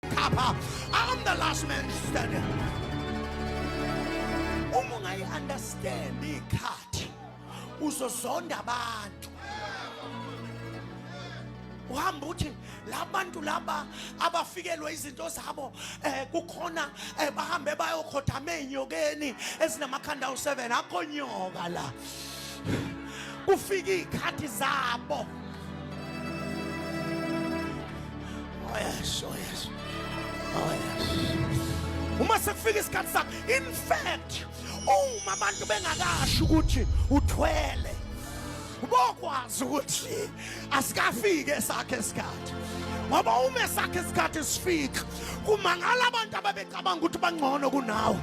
Papa, I'm the last man standing. Uma ungayi understand ikhathi uzozonda abantu. Uhamba uthi labantu laba abafikelwe izinto zabo eh kukhona eh, bahambe bayokhothama ezinyokeni ezinamakhanda awu7 akho nyoka la. Kufika ikhathi zabo. Oh yes, oh yes. Oh yes. Uma sekufika isikhathi sakho, in fact, uma abantu bengakasho ukuthi uthwele bokwazi ukuthi asikafike esakhe isikhathi ngoba uma esakhe isikhathi sifika kumangala abantu ababecabanga ukuthi bangcono kunawe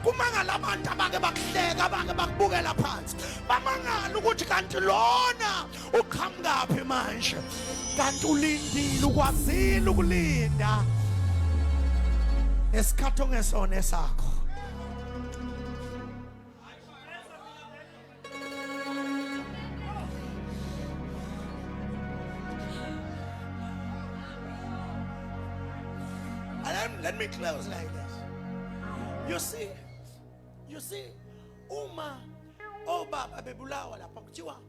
kumangala abantu abake bakuhleka abake bakubukela phansi bamangala ukuthi kanti lona uqhamukaphi manje kanti ulindile ukwazile ukulinda esikhathi ongesona esakho let me close like this. You see, you see, uma obaba bebulawa lapha kuthiwa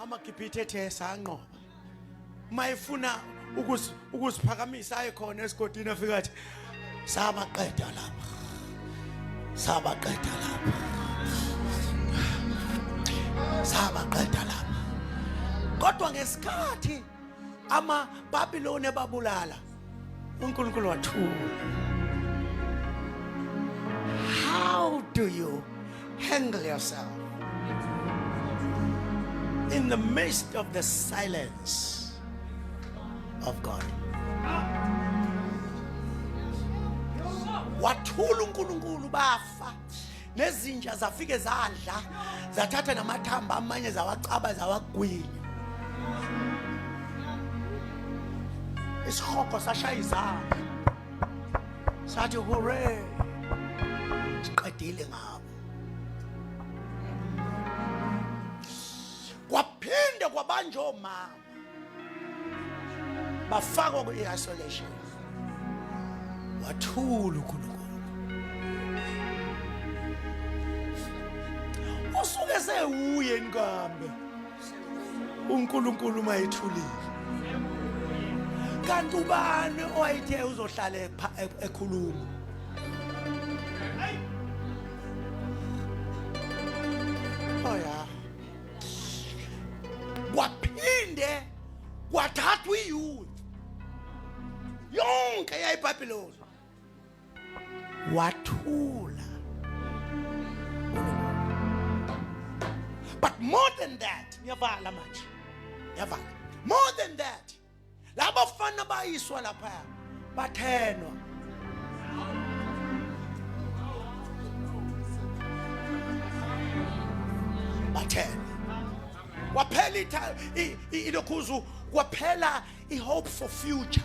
amagibhithe ethe sanqoba uma efuna ukuziphakamisa aye khona esigodini afika athi sabaqeda lapha sabaqeda lapha sabaqeda lapha kodwa ngesikhathi amababiloni ebabulala unkulunkulu wathula how do you handle yourself in the midst of the silence of god wathula unkulunkulu bafa nezinja zafike zadla zathatha namathamba amanye zawacaba zawagwinya isihogo sashaya izandla sathi hure siqedile ngabo kwaphinde kwabanjomama bafakwa kwi-isolation wathula uNkulunkulu usuke sewuye nkambe uNkulunkulu mayithulile kanti ubani owayithe uzohlala ekhuluma oh yeah kwaphinde kwathathwa iyouth yonke yayibhabhiloni wathula but more than that ngiyavala manje ngiyavala more than that laba fana bayiswa lapha bathenwa bathenwa waphela ilokhuzu kwaphela i-hope for future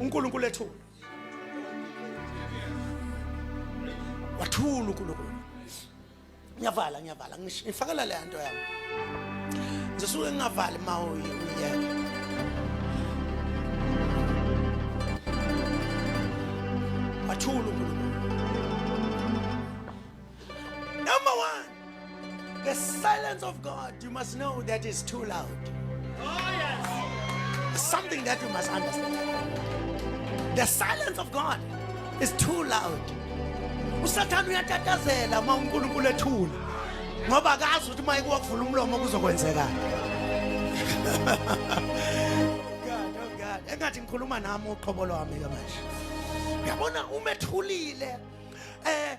uNkulunkulu ethula wathula uNkulunkulu ngiyavala ngiyavala ngifakela le nto yami ngisuke ngingavali ma uyeke wathula uNkulunkulu Number one, the silence of God, you must know that is too loud. Oh, yes. Something that you must understand. The silence of God is too loud. usathane uyatatazela uma unkulunkulu ethula ngoba akazi ukuthi uma ikuwakuvula umlomo kuzokwenzekani engathi ngikhuluma nami uqhobo lwami-ke manje uyabona umethulile um eh,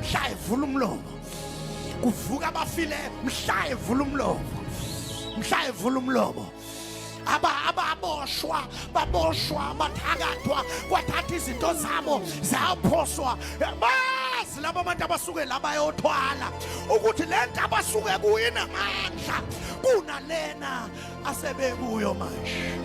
mhla evula umlomo kuvuka abafile mhla evula umlomo mhla evula umlomo aba ababoshwa baboshwa bathakathwa kwathatha izinto zabo zaphoswa bazi laba bantu abasuke la bayothwala ukuthi le nto abasuke kuyinamandla kunalena asebekuyo manje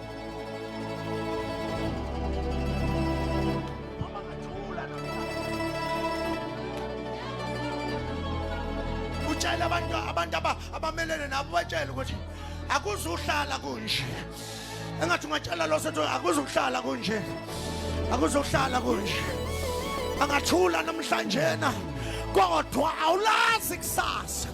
utshele abantu abantu abamelene nabo batshele ukuthi akuzuhlala kunje engathi ungatshela lo sethu akuzuhlala kunje akuzuhlala kunje angathula namhlanjena kodwa awulazi kusasa